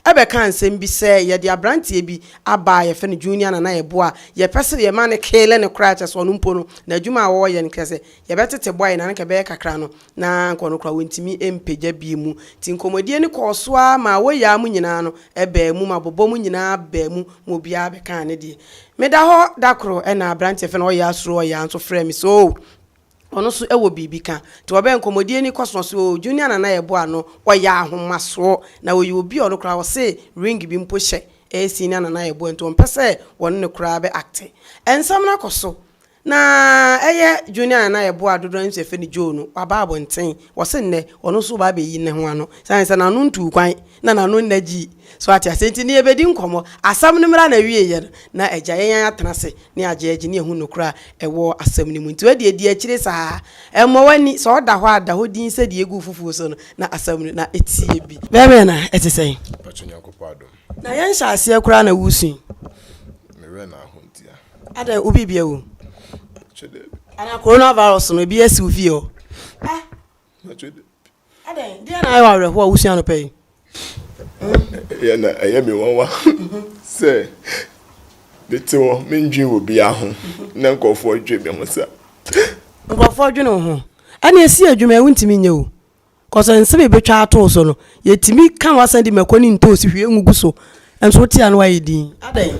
bɛkaa nsɛm bi sɛ yɛde abranteɛ bi aba a yɛfrɛ no Junior na na yɛboa a yɛpɛ sɛ yɛma no kele no koraa kyerɛ sɛ ɔno mpo no na adwuma a wɔwɔ yɛ no kɛsɛ yɛbɛtete boae na anka ɛbɛyɛ kakra no na anka ɔno koraa wɔntumi mpagya bi mu nti nkɔmmɔdie no kɔɔ so ara maa wɔyaa mu nyinaa no baa mu ma bɔbɔ mu nyinaa baa mu ma obiara bɛkaa ne deɛ meda hɔ da koro na abranteɛ fɛ no ɔyaa suro ɔyaa nso frɛɛ me sɛ oo ɔno nso wɔ biribi ka. Nti wɔbɛyɛ nkɔmmɔdie no kɔ so na ɔse oo Junior Nana yɛ boa no ɔyɛ ahomasoɔ na ɔyɛ obi a ɔno koraa ɔse ring bi mpo hyɛ ɛyɛ Senior Nana yɛ boa nti ɔmpɛ sɛ wɔne no koraa bɛ acte. Nsɛm no akɔ so na ɛyɛ Junior Nana yɛ boa a dodoɔ no ara nso yɛfrɛ no Joe no waba abɔnten wɔse nnɛ ɔno nso reba abɛyi ne ho ano sane sɛ n'ano ntuu kwan na n'ano nna gyii so ate aseɛ nti ne yɛbɛdi nkɔmmɔ asɛm no mmra n'awieɛ no na agya yɛn atena ase ne agyeagye ne ɛho nokorɛ a ɛwɔ asɛm no mu. Nti wodeɛ di akyire saa ara. Mmɔ w'ani, sɛ ɔda hɔ a da hɔ dinn sɛdeɛ ɛgu foforɔ so no, na asɛm no na ɛteɛ bi. Bɛɛma na ɛte sɛn? Mpakyɛ Nyankopɔn adom. Na yɛn nhyɛaseɛ koraa na wo sui? Me werɛ na aho ntia. Adɛn wo biribia wom? Mpakyɛ daabi. Anaa Corona virus no ebi asi wo fie hɔ? Ah! adɛn deɛ na ayɛ wɔ awerɛhoɔ a wosua no pɛ yi ɛyɛ na ɛyɛ me nwanwa sɛ mete hɔ mendwen wɔ biaa ho na nkurɔfoɔ dwe me ho sa nkurɔfoɔ dwene wo ho ɛne ɛsi adwuma ɛwo ntumi nyɛ o kɔsɛ nsɛm ɛbɛtwa atoo so no yɛtumi ka wasan di mako ne ntoosi hwie ngugu so ɛnso wotia no wayɛ din adɛn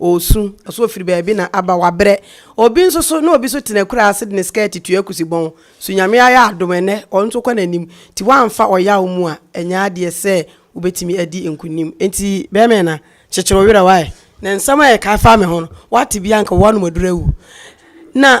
Ɔresu, so ɔfiri baabi na aba, wabrɛ. Obi nso so, na obi nso te n'akuraa ase de ne skɛɛte tua akusi bɔn, so Nyame ayɛ adom ɛnnɛ, ɔno nso kɔ n'anim. Nti woamfa ɔyaw mu a, ɛnyɛ adeɛ sɛ wobɛtumi adi nkunim. Nti bɛɛma yi na, kyekyere wo werɛ, why? Na nsɛm a yɛkae faa me ho no, woate bi a, anka wo anom aduru awu. Na.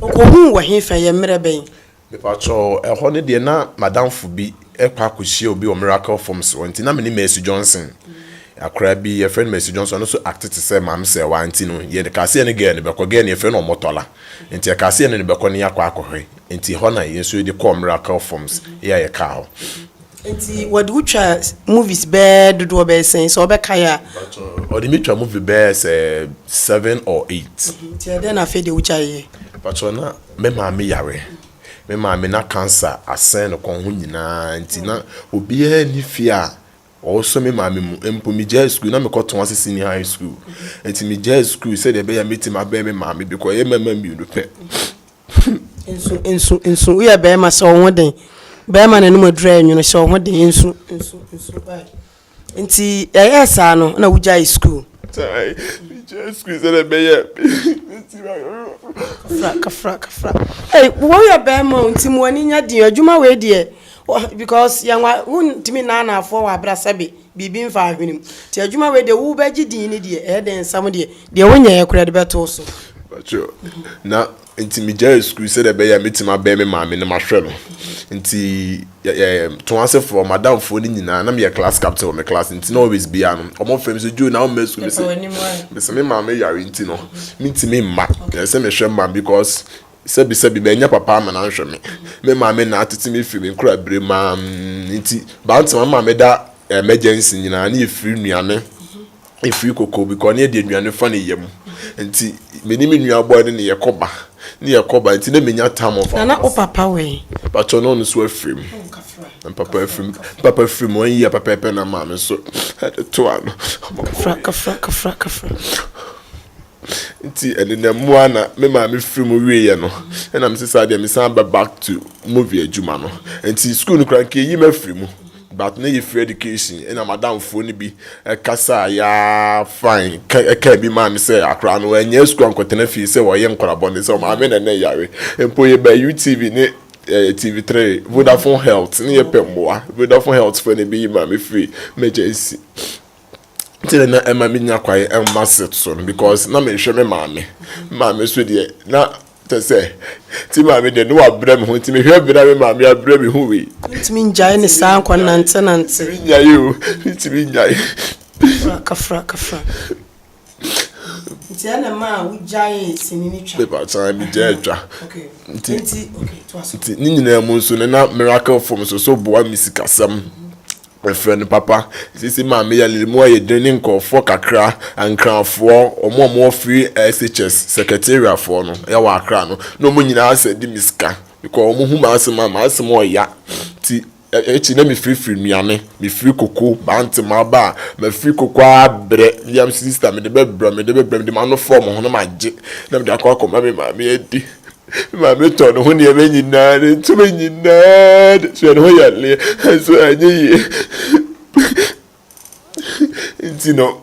Okohuu wɔ hefa? Ɛyɛ mmerɛ bɛn? Mepakyɛw, ɛhɔ no deɛ na m'adamfo bi kɔ akɔhyia obi wɔ Miracle Forms hɔ nti na me ne Mercy Johnson, akwadaa bi yɛfrɛ no Mercy Johnson, ɔno nso acte te sɛ Maame Sɛɛwaa nti no yɛkaa sɛ yɛne girl no bɛkɔ, girl no yɛfrɛ no Omotola nti yɛkaa sɛ yɛne no bɛkɔ na yɛakɔ akɔhwɛ nti ɛhɔ na yɛn nso yɛde kɔɔ Miracle Forms yɛ a yɛkaa hɔ. Nti wɔde wo twa movies bɛɛ dodoɔ bɛɛ sɛn sɛ wobɛkae a? Mpakyɛ wɔde me twa movie bɛɛ sɛ seven or eight. Nti ɛdɛn na afei deɛ wogyaeɛ? Mpakyɛ na me maame yare, me maame na cancer asɛn no kɔn ho nyinaa nti na obiara nni fie a ɔsɔ me maame mu. Mpo megyae sukuu na mekɔtɔn ase senior high school. Nti megyae sukuu sɛdeɛ ɛbɛyɛ a mɛtumi abɛn me maame because ɛyɛ mmarima mmienu pɛ. Nsu, nsu, nsu, woyɛ bɛrima hyɛ wo ho den. Bɛrima n'anom aduru ayɛ nwono, hyɛ wo ho den. Nsu, nsu, nsu, why? Nti ɛyɛɛ saa no na wogyae school. Tae, megyae school sɛdeɛ ɛbɛyɛ meti ma Kafra, kafra, kafra. Ei, woyɛ bɛrima o, nti mo ani nya den. Adwuma wei deɛ, because yɛn wa, wontumi nnaanaafoɔ wɔ abrasɛbe. biribi mfa ahwene mu. Nti adwuma wei deɛ wobɛgye din no deɛ ɛyɛ dɛ nsɛm deɛ deɛ wonyɛɛ koraa de bɛto wo so. Pacho, na nti megyae sukuu sɛdeɛ ɛbɛyɛ a mɛtumi abɛn me maame na mahwɛ no. Nti yɛ yɛ to asefoɔ, madamfoɔ no nyinaa, na meyɛ class captain wɔ me class nti na always biara no, wɔfrɛ me sɛ, Joe na wommɛ sukuu? Mese, mese me maame yare nti no, mentumi mma. Ɛsɛ sɛ mehwɛ mma no because Sɛbisɛbi, mannya papa amma no annhwɛ me. Me maame na atsetse me fir me nkoraber mu ara mu. Ntsi, Bantam ama meda emergency nyina ne efir nnuane, efir koko bcause ɔno yɛ dza nnuane fa ne yɛ mu. Ntsi, menye me nua boy no na yɛkɔ ba, na yɛkɔ ba, ntsi na minnya tam of Na na wo papa wɔ he? Mpakyɛw, na ɔno so afir mu. Papa afir mu, papa afir mu one year pɛpɛɛpɛ na maame so dze too ano. Kafra, kafra, kafra, kafra. Nti ɛde na mu a na me maame firi mu wieɛ no ɛna me sesa deɛ mesan ba back to movie adwuma no nti school no koraa nkeyi ma firi mu but na yɛ firi education ɛna madamfoɔ no bi ɛkasa a yaa fine ka ɛka bi maa me sɛ akora no ɛnyɛ school ankɔtena fie sɛ wɔyɛ nkora bɔne sɛ maame na ne yare mpo yɛ ba UTV ne eh, TV3 Vodafone Health ne yɛ pɛ mmoa Vodafone Health fo ne bi yi maame firi emergency nti na na ɛma menya kwae mma set so no because na mehwɛ me maame maame so deɛ na kyɛ sɛ ti maame deɛ ne wabrɛ me ho nti mehwɛ berɛ a me maame abrɛ me ho wei ntumi ngyae ne saa nkɔ nante nante ntumi nyae o ntumi nyae fraka fraka fraka Nti ɛna maa wogyaee sini no twa. Pepa san bi gya atwa. Nti nti ne nyinaa mu nso no na miracle fam so so boa me sikasɛm. Mefrɛ no papa. Sisi maa me yɛ lere mu ayɛ den ne nkurɔfoɔ kakra Ankrafoɔ wɔn a wɔwɔ free SHS secretariat foɔ no ɛwɔ Accra no na wɔn nyinaa sɛ de me sika because wɔn hu m'asɛm a m'asɛm ɔya nti Ekyir no na mefirfir nnuane, mefir koko, mantse m'aba a, mafir koko ara brɛ me yam sister, mede bɛbrɛ, mede bɛbrɛ, mede m'ano fɔw mo ho na magye na mede akɔ akɔma me maame adi. Me maame tɔn no ho nneɛma nyina, ne ntoma nyina de soɛ no ho yɛ lee, naaso annyɛ yie ntsi no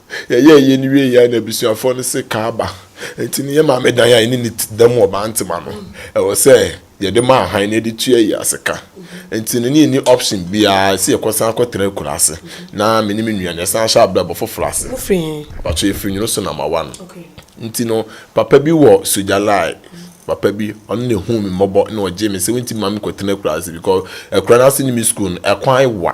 Yɛyɛɛ yei no wieeɛ a na abusuafoɔ no se Kaaba nti no yɛ maame dan a ɛne ne ti da mu ɔbaa ntoma no ɛwɔ sɛ yɛde ma ahan na yɛde tua yei ase ka nti no ne yɛnni option biara ɛsɛ yɛkɔ san kɔ tena akura ase na me ne me nua no yɛsan hyɛ abrɛbɔ foforɔ ase. Mo firi he? Mpakyɛ yɛfiri Nwono so number one nti no papa bi wɔ Sogyalae papa bi ɔno na ɛhuu me mmɔbɔ na ɔgyee me sɛ wonti mma me kɔ tena akura ase because akura no ase ne me school no ɛkwan wa.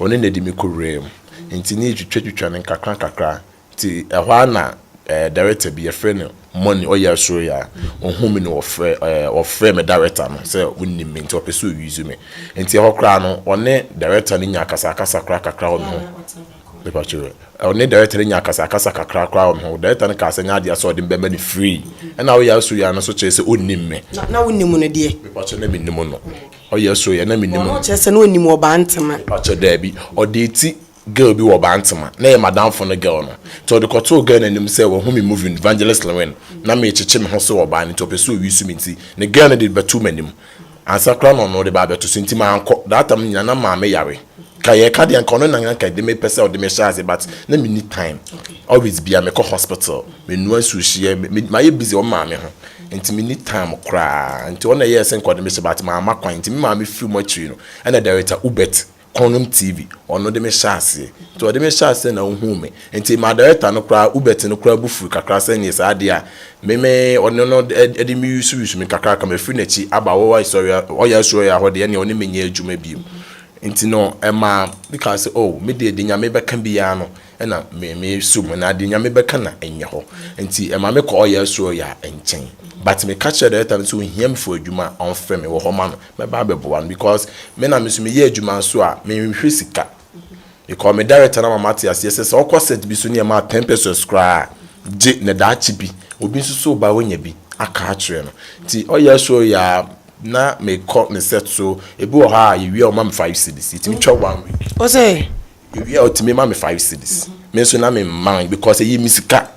Ɔne no de me kɔwuraa mu. Enti ne yɛtwitwatwitwa no nkakrankakra. Nti ɛhɔ ara na ɛɛ director bi, yɛfrɛ no Money, ɔyɛ Asoroya. Ɔhuu me na ɔfrɛ ɛɛ ɔfrɛɛ me director no sɛ ɔnnim me nti ɔpɛ sɛ ɔuse me. Nti ɛhɔ koraa no ɔne director no nyaa akasakasa koraa kakra wɔ me ho. Me pa kyɛw ɛ. Ɔne director no nyaa akasakasa kakra koraa wɔ me ho. Director no kaa sɛ ɛnyɛ adeɛ sɛ ɔde me bɛma no free. Ɛna woyɛ Asoroya no nso kyerɛ sɛ ɔnnim me. Na na wonim no deɛ? Me pa kyɛw na mennim no. Ɔyɛ so yɛ na me nim no. Ɔno ɔkyerɛ sɛ na ɔnim ɔbaa ntema. Mepakyɛw daabi ɔdee ti girl bi wɔ ɔbaa ntema na ɛyɛ madamfo no girl no nti ɔde kɔtoo girl no anim sɛ wahu me movie no Vangelist Lewin na meekyekye me ho so wɔ ɔbaa no nti ɔpɛ sɛ owisu me nti ne girl no de bɛtoo m'anim ansa koraa na ɔno de ba abɛto so nti mankɔ that time no nyinaa na maame yare ka yɛ ka deɛ nka ɔno nan anka ɛde me pɛ sɛ ɔde me hyɛ ase but na me ni time always bia me kɔ hospital me nua nsuo hyɛ me ma yɛ busy wɔn maame ho nti me ni time koraa nti ɔna yɛ sɛ nka ɔde me hyɛ but maa ma kwan nti me maame firi mu akyiri no ɛna director ubet kɔnum tv ɔno de me hyɛ ase nti ɔde me hyɛ ase na ohun me nti maa director no koraa ubet no koraa bu firi kakra sɛ nyɛ saa deɛ a me me ɔno no ɛde me yusu yusu me kakra kama firi n'akyi aba wɔwɔ asɔre ɔyɛ asɔre ahɔ deɛ ɛna ɔne me nyɛ adwuma biem. Nti no, ɛmaa me kaa sɛ, Oh, me deɛ, deɛ Nyame bɛka biara no na me, me so mu, na deɛ Nyame bɛka na ɛnyɛ hɔ. Nti ɛmaa me kɔɔ ɔyɛ soro ya nkyɛn. But me ka kyerɛɛ director no sɛ ohia me for adwuma a, ɔmfrɛ me, wɔ hɔ ma no, mɛba abɛboa no, because me na me nso meyɛ adwuma nso a, me nhwɛ sika. Because me director no ama mate aseɛ sɛ, sɛ ɔkɔ set bi so ne ɛmaa ten pesewas koraa a, gye, na daakye bi, obi nso so ba, ɔnya bi aka akyerɛ no. Nti ɔyɛ soro ya. Na me kɔ me set so. Ebi wɔ hɔ a yɛ wie a ɔma me five cedis. Yɛ tumi twɛ one week. Ɔsɛ. Yɛ wie a ɔtumi ma me five cedis. Me nso na me mma because ɛyɛ me sika.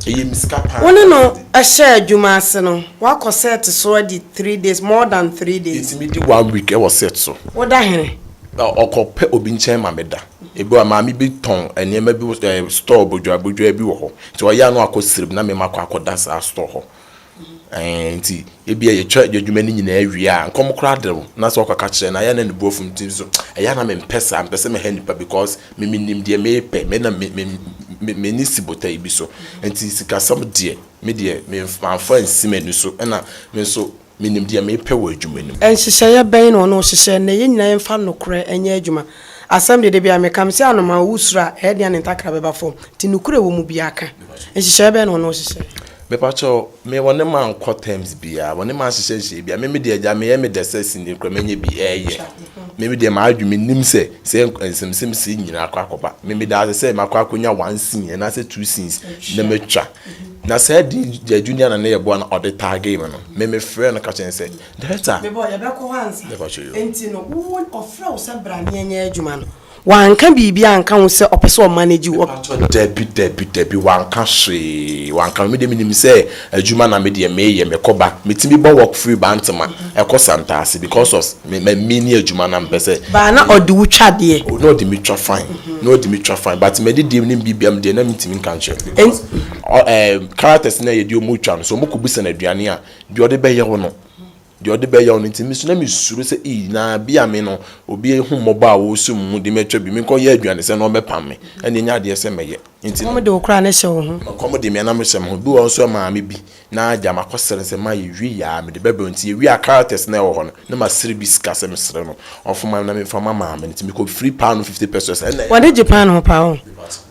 Ɛyɛ me sika paa. Wo ne no hyɛ adwuma ase no, wakɔ set so adi three days, more than three days. Yɛ tumi di one week ɛwɔ set so. Wo da hene. Ɔkɔ pɛ obi nkyɛn ma me da. Ebi wɔ hɔ a maame bi tɔn nneɛma bi wɔ store bɔdwaa bɔdwaa bi wɔ hɔ. Nti ɔyɛ a na wakɔ srem na me ma kɔ akɔ da saa store hɔ. Ɛɛ nti ebia yɛtwa adwuma no nyinaa wie a, nkɔm koraa de wo, na sɛ wokɔka kyerɛ no a, ɛyɛ a na ne bo afu nti nso ɛyɛ a na mempɛ saa, mempɛ sɛ meha nnipa because me menim deɛ merepɛ, me na me me m'ani si botae bi so. Nti sikasɛm deɛ, me deɛ mamfa ansi m'ani so, ɛna me nso menim deɛ merepɛ wɔ adwuma no mu. Nhyehyɛeɛ bɛn na ɔno hyehyɛɛ? Nnɛ, yɛn nyinaa yɛmfa nokorɛ nyɛ adwuma. Asɛm de, da biara meka, mese anomaa a ɔwɔ suro a, ɛyɛ den a ne ntakra bɛba fam. Nti nokorɛ a ɛwɔ mu biara ka. Nhyehyɛeɛ bɛn na wɔne wo hyehyɛɛ? Me pa kyɛw, me wɔne mankɔ terms biara, wɔne manhyehyɛ nhyehyɛeɛ biara. Me me deɛ agya, meyɛ me dɛ sɛ sini koraa mɛnya bi ɛɛyɛ. Me me deɛ m'adwene, menim sɛ, sɛ nsɛmsɛm sei nyina akɔ akɔba. Me me daase sɛ makɔ akɔnya one scene anaasɛ two scenes na matwa. Na saa din Gyaju Nana no yɛ boa na ɔde tagee me no, me me frɛɛ no ka kyerɛɛ no sɛ, Director, Me bɔ yɛbɛkɔ hɔ ansa. Yɛkɔ akyire o. Nti no wo ɔfrɛ wo sɛ bra ne ɛnyɛ adwuma no wanka biribi anka ho sɛ ɔpɛ sɛ ɔ manage wo? Mepakyɛ dabi dabi dabi wanka hwee wanka me deɛ menim sɛ adwuma na me deɛ meyɛ mekɔ ba metumi bɔ work firi bantama ɛkɔ santase because of me ma me ne adwuma na mpɛ sɛ. Baa na ɔde wo twa deɛ. O na ɔde me twa fine na ɔde me twa fine but mɛde deɛ ne biribi a me deɛ na mentumi nka nkyerɛ no because ɔ ɛɛ characters no a yɛde wɔn twa no sɛ wɔn kɔ bu sɛn aduane a. Deɛ ɔde bɛyɛ wo no, deɛ ɔde bɛyɛ wo no nti, me nso na mesuro sɛ ii, na bi a me no, obi ahummɔbɔ a ɔresu me mu de mɛtwa bi, menkɔyɛ aduanesɛ na ɔmmɛpam me, ɛnde ɛnyɛ adeɛ sɛ mɛyɛ. Enti na. Ɔkɔm de wo koraa na ɛhyɛ wo ho. Ɔkɔm de me na mehyɛ me ho. Ebi wɔ hɔ nso a ɛmaa me bi, na agya makɔsrɛ sɛ mma yɛwie yɛ ara, mede bɛbrɛ wo. Enti yɛwiaa characters no a ɛwɔ hɔ no, na masrɛ bi sika sɛ mesrɛ no ɔmfa mma me na memfa mma maame no, enti mekɔfiri paanoo fifty pesos, ɛnna ɛyɛ a. W'ani gye paanoo paa o.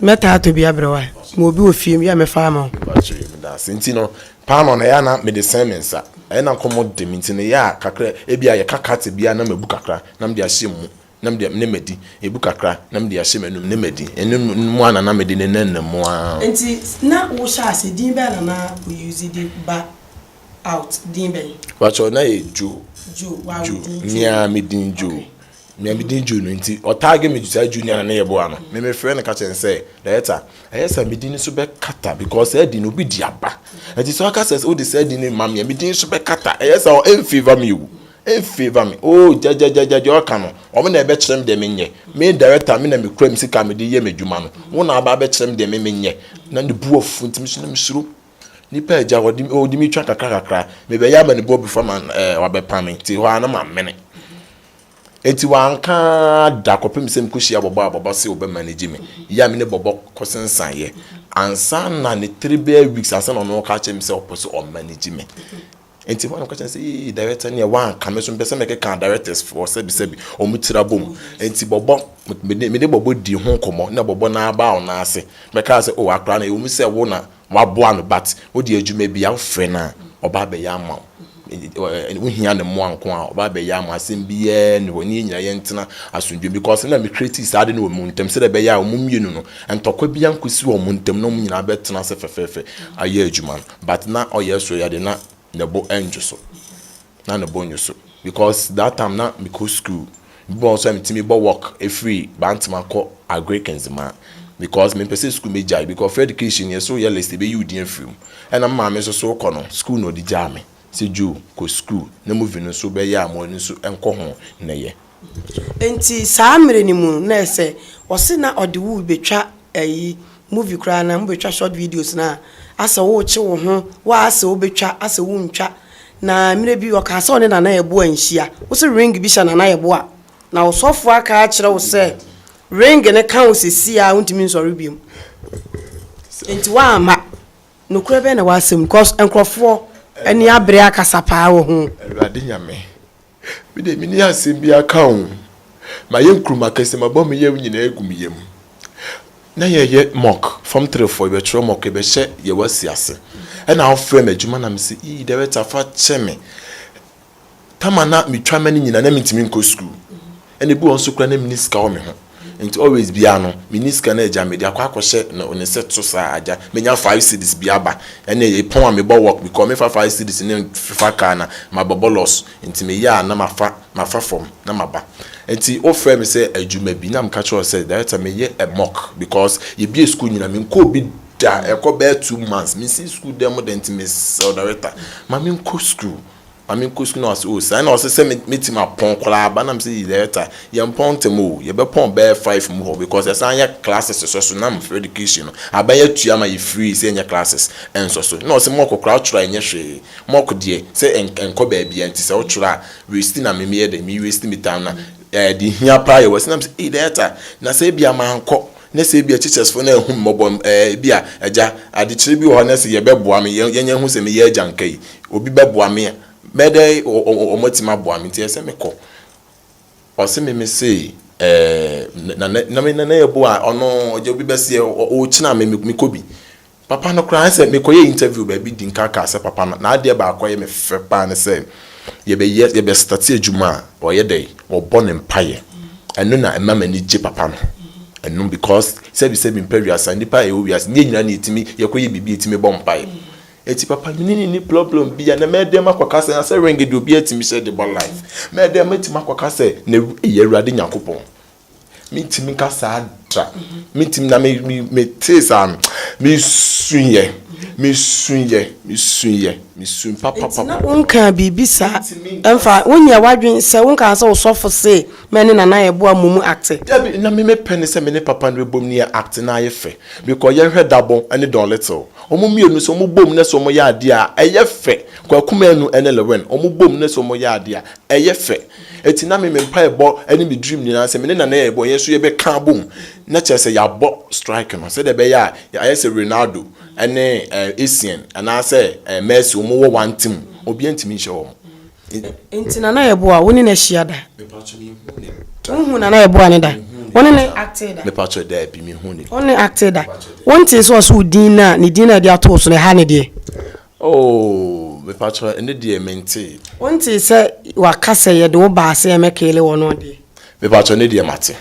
Mɛtaa atɔ bi abrɛ wo a, mewɔ bi wɔ fie, meyɛ a mɛfa ama wo. Mepa kyɛw, yɛ me danse. Enti no, Paanoo no, ɛyɛ a na mede sɛn me nsa. Ɛyɛ na nkɔmmɔ de me nti no, ɛyɛ a kakra a ebia yɛka kate bi a na mabu kakra na mede ahyɛ mu na mede ne madi, ebu kakra na mede ahyɛ m'anom ne madi. Ɛno mu ara na na mede nenam mu ara. Nti na wo hyɛ ase din bɛn na na wo use de ba out, din bɛn? Mpakyɛw na ɛyɛ Joe. Joe, w'awo din Joe. Joe, me ara me din Joe. Okay. Nea me din June nti, ɔtaage me saa June a na yɛ boa no. Me me frɛ no ka kyerɛ no sɛ, Loretta, ɛyɛ sɛ me din nso bɛ kata because saa din no obi di aba. Ɛti sɛ ɔka sɛ wode saa din no ma me a, me din nso bɛ kata. Ɛyɛ sɛ ɔ favor me o. Ɛn favor me. Oh, gyagyagyagya deɛ ɔka no. Wɔn na ɛbɛ kyerɛ me deɛ me nyɛ. Me director, me na me kura me sika a me de yɛ me adwuma no. Wɔn na aba abɛ kyerɛ me deɛ me me nyɛ. Na ne bu afu nti me so na me suro. Nipa a agya ɔde ɔde me twa kakra kakra. Me bɛ yɛ amanibɔ before ma ɛɛ wabɛ pam me. Nti hɔ a na ma mene. Enti wanka ara da kɔpem sɛ mekɔhyiaa Bɔbɔ a Bɔbɔ se ɔbɛmanage me yɛ a me ne Bɔbɔ kɔsensaneɛ ansa na ne three bɛyɛ weeks ansa na ɔno ɔka kyerɛ me sɛ ɔpɛ sɛ ɔmanage me. Enti hɔ a na meka kyerɛ no sɛ ee director neɛ wanka me nso mepɛ sɛ mekeka directors foɔ sɛbisɛbi wɔn tiri abom. Enti Bɔbɔ me ne Bɔbɔ dii ho nkɔmmɔ na Bɔbɔ nan abaa ɔnan ase bɛkaa sɛ oh akora no ɛwɔ mu sɛ wo na Waboa no but wode adwuma bia wofrɛ no a ɔba abɛyɛ ama wo eh, wohia ne mmoa nko a ɔba abɛyɛ ama asɛm biaa ni hɔ ne yɛ nyina yɛntena asomdwem because na me creative saa de no wɔ mu ntam sɛdɛ ɛbɛyɛ a ɔmo mmienu no ntɔkwa bia nkɔsi wɔ ɔmo ntam na ɔmo nyinaa bɛtena ase fɛfɛɛfɛ ayɛ adwuma no but na ɔyɛ so yɛ de na ne bo ɛndwo so na ne bo nnwo so because that time na mekɔ school, ebi wɔ hɔ nso a metumi bɔ walk firi Bantama kɔ Agric Nzema because mempɛ sɛ school mɛgyae because free education no yɛ sɛ woyɛ list ɛbɛyi wo din afiri mu ɛna me maame nso so wokɔ no, school na ɔde gyaa me sɛ Joe kɔ school na movie no nso bɛyɛ a mo ani nso nkɔ ho nnɛyɛ. Nti saa mmerɛ no mu no na ɛsɛ ɔse na ɔde wo bɛtwa ayi movie koraa na mobɛtwa short videos no a asɛ worekye wo ho wo asɛ wobɛtwa asɛ wontwa na mmerɛ bi ɔkaa sɛ ɔne Nana Yeboah nhyia wo se ring bi hyɛ Nana Yeboah na ɔsɔfoɔ aka akyerɛ wo sɛ ring no ka wo sesie a wontumi nsɔre biom nti woamma nokorɛ bɛn na ɛwɔ asɛm no cause nkorɔfoɔ ani abere akasa paa wɔ ho. Awurade Nyame Me deɛ menni asɛm bi aka o. Mayɛ nkurum akɛseɛ, mabɔ me yam nyinaa agu me yam. Na yɛyɛ mock, fam three foɔ, yɛbɛtwerɛ mock, yɛbɛhyɛ deɛ wasi ase. Ɛna wofrɛ me adwuma na mese, ii director fa kyɛ me. Tam a na metwa ma no nyinaa na mentumi nkɔ sukuu. Ɛna ebi wɔ hɔ nso koraa na menni sika wɔ me ho nti always biara no menni sika na agya mede akɔ akɔhyɛ no ne set so saa agya menya five cedis bi aba ɛna epɔn a mebɔ work because mefa five cedis no mfa car na mabɛbɔ loss nti meyɛ a na mafa mafa fam na maba nti wofrɛ me sɛ adwuma bi na meka kyerɛ wo sɛ director meyɛ mock because yɛbue school nyina menkɔɔ bi da ɛkɔ bɛyɛ two months mesi school dan mu dɛ nti mesrɛ wo director ma menkɔ school. Mame nkosi no ase oo saa na ɔsɛ sɛ mɛtim apɔn koraa ba na mesɛ Yireta yɛmpɔn ntɛm oo yɛbɛpɔn bɛyɛ five mu hɔ because yɛsan yɛ classes sɔ so na me frɛ education no aban yɛ tua ma yɛ free sɛ yɛnyɛ classes ɛnsɔ so na ɔsɛ mock koraa twerɛ a ɛnyɛ hwee mock deɛ sɛ ɛnkɔ baabiaa nti sɛ wotwerɛ a waste na me meyɛ dɛn me waste me time na ɛde hia paa yɛ wɔ ase na mesɛ Yireta na sɛ ebia mankɔ Na sɛ ebia teachers fo no anhu me mmɔbɔ ɛɛ ebia agya adekyerɛ bi wɔ hɔ na sɛ yɛbɛboa me yɛn yɛnyɛ ho sɛ meyɛ agya nka yi obi bɛboa me a mɛdɛ wɔn atumi aboa me nti ɛsɛ mekɔ ɔse me me se ɛɛ na na na me na na yɛboa ɔno ɔgya obi bɛseɛ ɔɔkyina me mekɔ bi Papa no koraa sɛ mekɔyɛɛ interview baabi di nkan kaa sɛ papa no n'adeɛ baako a ɛyɛ me fɛ paa ne sɛ yɛbɛyɛ yɛbɛ starte adwuma a ɔyɛ dɛn ɔbɔ ne mpaeɛ ɛno na ɛma m'ani gye papa no ɛno because sɛbi sɛbi mpa wiase a nnipa a yɛwɔ wiase ne yɛn nyinaa na yɛtumi yɛkɔyɛ biribi a yɛtumi bɔ mpaeɛ enti papa mene no nni problem biara na mɛdɛm akɔka sɛ nasɛ ring deɛ obiara tumi hyɛ de bɔ life mɛdɛm mɛtumi akɔka sɛ na ɛyɛ Awurade Nyankopɔn Mentumi nka saa da. Mentumi na me me metee saa no, mesuiɛ, mesuiɛ, mesuiɛ, mesui Nti na papapapa. wonkaa biribi saa Mentumi nka ɛmfa, saa. wonyɛɛ w'adwene sɛ, wonkaa sɛ wo sɔfo se mɛ ne Nana Ayɛboa mmɔ mu acte? Dabi, na me mepɛ ne sɛ me ne papa no bɛbom ne yɛ acte na ayɛ fɛ. Because yɛnhwɛ Dabɔ ne Don Little, wɔn mmienu nso wɔn bom na sɛ wɔyɛ adeɛ a ɛyɛ fɛ. Kwaku Manu ne Lewin, wɔn bom na sɛ wɔyɛ adeɛ a ɛyɛ fɛ. Enti na me, me mpaebɔ ne me dream nyinaa sɛ me ne Nana yɛbɔ, yɛn nso yɛbɛka abom na kyerɛ sɛ yɛabɔ strike no sɛdeɛ ɛbɛyɛ a ayɛ sɛ Ronaldo ne eh, Essien anaasɛ eh, Messi wɔn wɔ one team, obiara ntumi nhyɛ wɔn. Nti Nana yɛbɔ a wo ne no ahyia da? Mepatwɔ menhuu ne da. Wonhuu Nana yɛbɔ a ne da? Wo ne ne actee da? Mepatwɔ daabi, menhuu ne da. Wo ne ne actee da? Wontee sɛ ɔse wo din no a, ne din no a yɛde ato wo so no, ɛha ne deɛ? Oh mepakyɛw ɛnɛ deɛ mentee. Wontee sɛ waka sɛ yɛde wo baa sɛ yɛmɛkeele wɔn no adeɛ? Mepakyɛw ɛnɛ deɛ mate.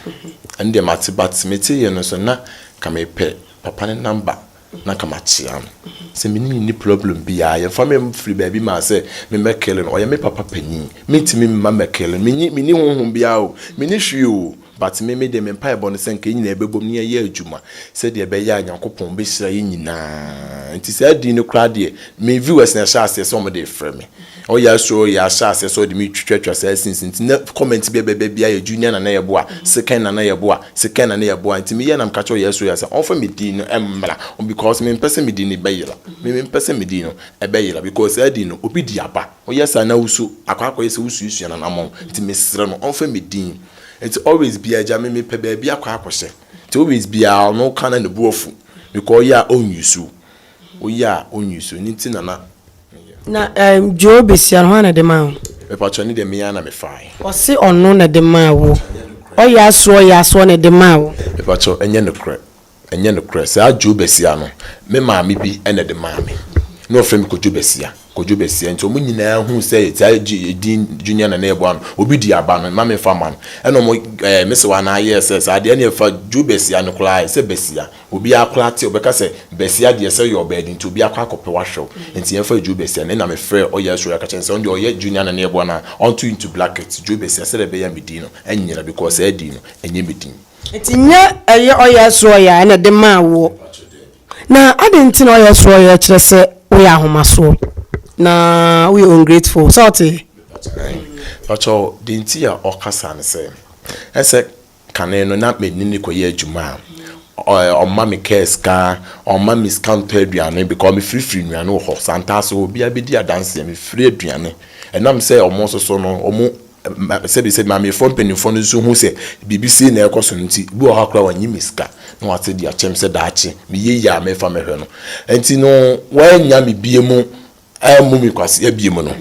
Ɛnɛ deɛ mate but meteeɛ no nso na nka mepɛ papa no number na nka makyea no. Sɛ me ne no nni problem biara yɛmfa me mfiri baabi maa sɛ memmɛkeele no ɔyɛ me papa panin mentumi mma mmɛkeele no menni honhom biara o menni hwee o. But me me deɛ me mpaebɔ no sɛ nka yɛn nyinaa yɛbɛbom na yɛayɛ adwuma sɛdeɛ ɛbɛyɛ a Nyankopɔn bɛhyira yɛn nyinaa nti saa din no koraa deɛ me viewers na ɛhyɛ aseɛ sɛ wɔn de refrɛ me oh yes oh yeah ahyɛ aseɛ sɛ wɔde me twitwatwa saa since nti na comment bi a ɛbɛba biara yɛ junior nana yɛboa second nana yɛboa second nana yɛboa nti me yɛ na meka kyerɛ yes oh yeah sɛ wɔmfa me din no mmra because me mpɛ sɛ me din no bɛyera me me mpɛ sɛ me din no ɛbɛyera because saa din no obi de aba woyɛ saa na wusu akɔ akɔyɛ sɛ wosuasua nanamɔn nti mesrɛ no wɔmfa me din Nti always bia agya me mepɛ baabi akɔ akɔhyɛ nti always bia ɔno woka na ne bo afu because ɔyɛ a ɔnwusu woyɛ a ɔnwusu ɛno nti na na meyɛ. Na ɛɛm Joe besia no hwan na de maa wo? Mepakyɛw ne deɛ me ara na me faaɛ. Ɔse ɔno na de maa wo. Ɔyɛ asoɔ ɔyɛ asoɔ na ɛde maa wo. Mepakyɛw ɛnyɛ nokorɛ Ɛnyɛ nokorɛ. Saa Dwo Basia no, me maame bi na ɛde maa me. Na wɔfrɛ me Kodwo Basia, Kodwo Basia. Nti wɔn nyinaa huu sɛ saa edin Junior na na yɛbɔ ano. Obi di aba no, mma memfa mma no. Ɛna wɔn ɛɛ me sewaa no ara yɛɛ sɛ saa deɛ, ɛnneɛ fa Dwo Basia no koraa yɛ sɛ Basia. Obiara koraa te a, ɔbɛka sɛ Basia deɛ sɛ ɔyɛ ɔbaa de nti, obi akɔ akɔpɛ wo ahwɛ wo. Nti yɛmfa Dwo Basia no. Ɛna mefrɛɛ ɔyɛ Aswori ka kyerɛɛ no sɛ ɔno deɛ ɔyɛ Junior na na yɛbɔ ano a, ɔnto into bracket Dwo Basia sɛdeɛ ɛbɛyɛ a me din no annyera because saa din no, ɛnyɛ me din. Enti nyɛ ɛyɛ ɔyɛ so ɔyɛ a na ɛde maa woɔ. Na adɛn nti na ɔyɛ so ɔyɛ kyerɛ sɛ woyɛ ahomasoɔ na woyɛ ungrateful. Sɛ wote? Pakyɛ wo, deɛ nti a ɔka saa ne sɛ, ɛsɛ kane no na me ne no kɔyɛ adwuma a, ɔmma me kaa sika, ɔmma me sika ntɔ aduane because me firi firi nnuane wɔ hɔ. Sɛ antaa so obiara bɛdi adanseɛ, me firi aduane. Ɛnam sɛ wɔn nso so no, wɔn Sɛbisɛbi, Maamefoɔ mpaninfoɔ no nso hu sɛ biribi sei na ɛrekɔ so no nti, bi wɔ hɔ a koraa wɔnnye me sika na wɔate de akyɛm sɛ daakye meyɛ yie a mefa mɛhwɛ no. Nti no wɔannya me bie mu ammu me kwasea bie mu no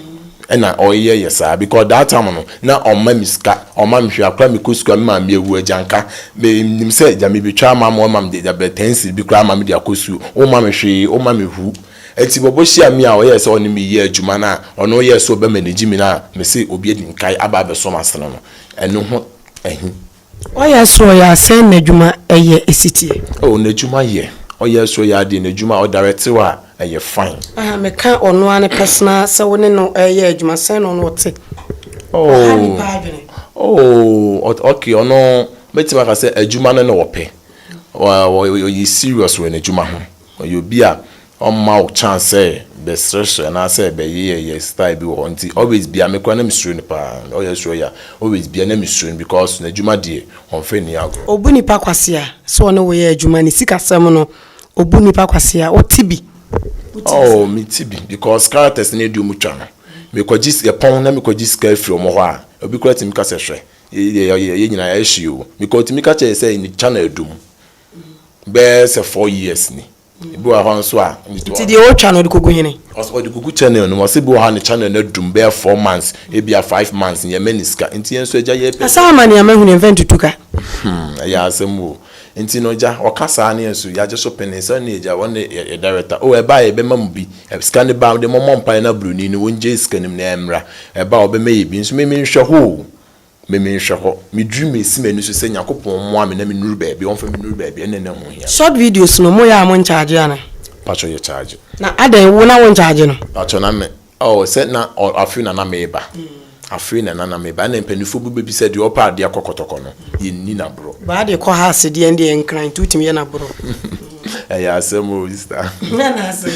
ɛna ɔyɛ yɛ saa because that time no na ɔmma me sika ɔmma me hwɛ akora mekɔ sukuu a me maame awu agya nka me nim sɛ agya mebɛtwa ama ma ɔma me de agya bɛ ten cedi bi koraa ama me de akɔ sukuu ɔmma me hwee ɔmma me hu Ntsi bɔbɔ hyia me a ɔyɛɛ sɛ ɔnye me yɛ edwuma no a ɔno yɛɛ sɛ ɔbɛma enyigye me no a mese obi edzi nkae aba abɛsɔ m'asen no, eno ho ahi. Ɔyɛɛ sɛ ɔyɛ asɛn n'edwuma yɛ esitsie. Oh, n'edwuma yɛ. Ɔyɛɛ sɛ ɔyɛ adze n'edwuma a ɔdaretsew a ɛyɛ fine. Aha, meka ɔno ara ne personal sɛ wo ne no reyɛ edwuma, sɛn na ɔno ɔtse? Aha, nyimpa adwene. Oh, okay, ɔno, mɛtumi aka sɛ edwuma no na ɔpɛ. Ɔyɛ serious wɔ n'edwuma ho. Ɔyɛ obi a ɔmma wo chance sɛ bɛsrɛsrɛ anaasɛ bɛyeyɛyɛ style bi wɔ hɔ nti always biara me koraa na me suro no paa ɔyɛ suro ya always biara na me suro no because n'adwuma deɛ ɔnfɛ nni agorɔ. Obu nipa kwasea sɛ ɔne wo yɛ adwuma ne sikasɛm no obu nipa kwasea wo te bi. Oh me te bi because characters no adi ɔmo twa no me kɔ gye yɛ pɔn na me kɔ gye sika afiri ɔmo hɔ a obi koraa tumi ka sɛ hwɛ yɛ yɛ yɛ nyinaa yɛ hye oo because ɔtumi ka kyerɛ yɛ sɛ channel adum bɛyɛ sɛ four years ni ebi wɔ hɔ nso a. nti deɛ ɔtwa no ɔde kogu hene. ɔde kogu channel no mu ɔsɛ bi wɔ hɔ a ne channel no adum bɛyɛ four months ebi a five months yɛn mɛ ne sika nti yɛn nso agya yɛ pɛ. asaa ama nea mahu no ɛnfɛ ntutu ka. hmm ɛyɛ asɛm o nti no agya ɔka saa ne yɛn nso yɛagye so pene sɛ ne agya wɔn ne yɛ director o ɛba a yɛbɛma mu bi sika ne ba de mɔmɔ mpae na broni no wɔn gye sika no mu na ɛmra ɛba a ɔbɛma yɛ bi nso mimi nhwɛ hoo Me me nhwɛ hɔ. Me dream me si m'ani so sɛ Nyakopɔn mmoa me na me nuru baabi ɔnfa me nuru baabi ɛne ɛna ɛho hia. Short videos no mo yɛ a mo nkyagye ana. Pakyɛ yɛ kyagye. Na adɛn wo na wo nkyagye no. Pakyɛ na me oh sɛ na oh afei na na me ba afei na na na me ba ɛna mpaninfoɔ bi bɛbisa deɛ ɔpɛ adeɛ akɔ kɔtɔkɔ no yɛ nni na borɔ. Baa deɛ kɔ ha ase deɛ ɛnde yɛ nkran nti wotumi yɛ na borɔ. Ɛyɛ asɛm oo sister. Ɛna asɛm.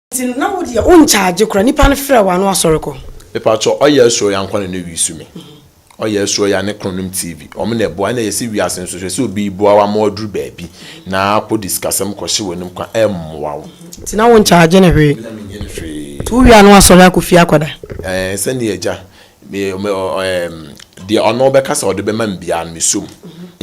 Nti no na wo deɛ wo nkyagye koraa nipa no frɛ wo a na wasɔre kɔ. Mepakyɛw ɔyɛ ɛsoro ya nkwane no wii su me ɔyɛ ɛsoro ya ne kono nom TV ɔmo na ɛboa ɛna yɛse wiase nso hwɛ sɛ obi reboa wo ama waduru baabi na akɔ de sikasɛm kɔ hye w'anim kwa ɛmmoa wo. Nti na wo nkyagye no hwee. Na menyɛ no hwee. Nti wo wie a na wasɔre akɔ fie akɔda. Ɛɛ sɛnea agya me me ɛɛm deɛ ɔno ɔbɛka sɛ ɔde bɛma me biara no mesɔ mu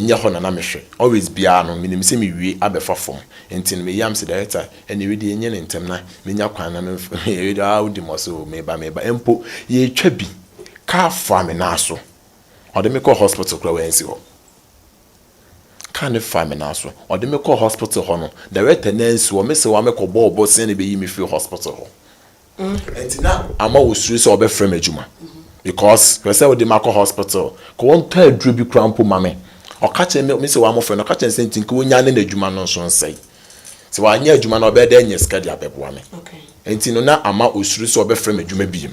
nyɛ hɔ na na mehwɛ always biara no menim sɛ mewie abɛfa fam nti no me yam sɛ director Ɛnneɛ wei deɛ yɛnyɛ no ntɛm na menya kwan na memf wei deɛ aa wodi mmɔse o, meba meba mpo. Yɛretwa bi, kaa faa me nan so. Ɔde me kɔɔ hospital koraa wansi hɔ. Kaa no faa me nan so. Ɔde me kɔɔ hospital hɔ no, director no ansi hɔ. Mese wɔamɛkɔbɔ wo bosea na ɛbɛyi me firi hospital hɔ. Ɛnti na ama wosuro sɛ wɔbɛfrɛ me adwuma because pɛ sɛ wode me akɔ hospital ka wɔntɔ aduro bi koraa mpo ma me. Ɔka kyerɛ me, me sɛ wɔamofrɛ no, ɔka kyerɛ no sɛ nti nka wɔnnya ne n'adwuma no nso nsɛe. Sɛ wanyɛ adwuma no a ɔbɛyɛ dɛ anya sika de abɛboa me. Ɛnti no na ama osuro sɛ wɔbɛfrɛ me adwuma biom.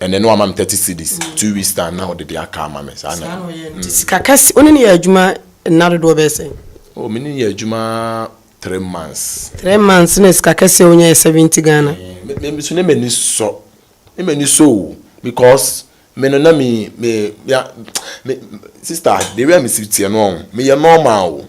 Ɛnɛ no wama me thirty cedis two weeks time na ɔde de aka ama me saa na. Saa na ɔyɛ nti mm. sika kɛse wo ne no yɛ adwuma nna dodoɔ bɛyɛ sɛn. Oh, me ne yɛ adwuma three months. Three months na sika kɛse a wonya yɛ seventy Ghana. Eh, me so ne m'ani sɔ ne m'ani sɔ o because me no na me me ya me sister de wia me si tiɛ no ɔn meyɛ normal o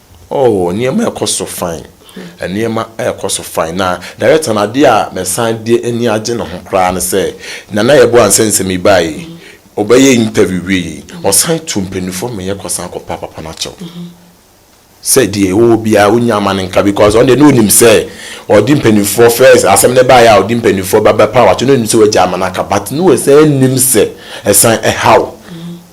Oh, nneɛma ɛkɔ so fine. Nneɛma ɛkɔ so fine. Na director no adeɛ a mesan de ani agye ne ho koraa ne sɛ, Nana Yeboah Ansah sɛ mebaa yi, ɔbɛyɛ interview wie yi, ɔsan tu mpaninfoɔ mmɛyɛ kɔsan kɔpa papa no akyɛw. Sɛ deɛ ɔwɔ biara ɔnya ama no nka because ɔno deɛ na ɔnim sɛ ɔde mpaninfoɔ first asɛm no baeɛ a ɔde mpaninfoɔ ba bɛpa wo akyɛw na ɔnim sɛ wagya ama no aka but na ɔsan nim sɛ ɛsan ɛhaw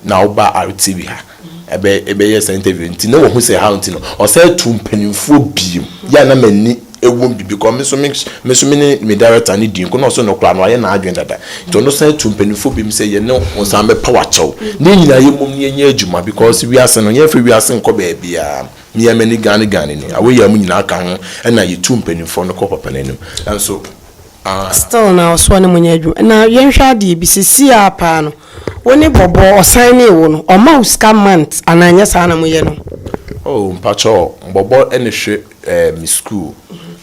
na woba RTV ha. ɛbɛ ɛbɛyɛ saa interview nti na wɔhu sɛ how nti no ɔsan tu mpanimfoɔ biem yɛ a na m'ani ɛwom bi because me nso me me nso me ne me director ne di nko na ɔso no koraa no ayɛ n'adwene dada nti ɔno san tu mpanimfoɔ biem sɛ yɛne wɔn san bɛpa wakyɛw ne nyinaa yɛ mmom ne yɛnyɛ adwuma because wiase no yɛmfa wiase nkɔ baabiara mmea mani gane gane ni awɔ yɛ mu nyinaa ka ho ɛna yɛtu mpanimfoɔ no kɔ papa no anim nanso a. Still na ɔsoa no mu nyɛ adwuma na yɛnhwɛ adeɛ bi sesie ara paa no wo ne bɔbɔ ɔsignee wo no ɔma wo sika month anaa nyɛ saa na mo yɛ no. Oh mpakyɛw bɔbɔ ne hwɛ eh me school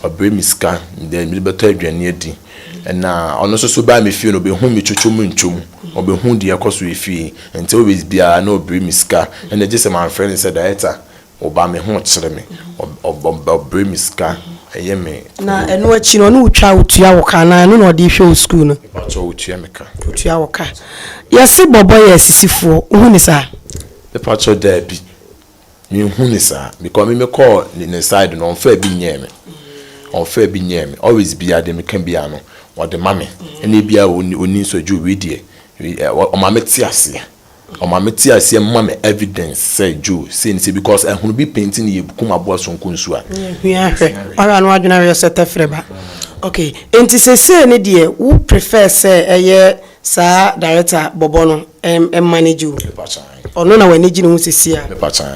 ɔbrɛ me sika then mede bɛtɔ aduane adi na ɔno nso so baa me fie no ɔbɛhu me twotwo mu ntwo mu ɔbɛhu deɛ ɛkɔ so wɔ efie nti always biara na ɔbrɛ me sika ɛna gye sɛ mamfrɛ no sɛ director Ɔba me ho kyere me. Ɔbrɛ me sika ɛyɛ me. Na ɛno akyi no ɔne wo twa ɔtua wo ka anaa ɛno na ɔde hwɛ wo sukuu no. Mepakyɛw ɔtua me ka. Ɔtua wo ka. Yɛse bɔbɔ yɛ asisifoɔ wohu no saa? Mepakyɛw daabi menhu no saa because me mekɔɔ ne side no ɔnfaa bi nyɛɛ me ɔnfaa bi nyɛɛ me always biaa deɛ meka biaa no ɔde ma me ɛna biaa ɔni nso adwo wei deɛ ɔma mete aseɛ. Ɔma me te aseɛ ma me evidence sɛ Joe sei ne sei because ɛhono bi pɛn nti ne yɛ kum aboa sonko nsuo a. Ne hwia hwɛ ɔhwɛ a ne wadwene ayɛ sɛ tɛfrɛ ba ok nti sesei ne deɛ wo prefer sɛ ɛyɛ saa director bɔbɔ no manage wo ɔno na w'ani gye ne ho sesei a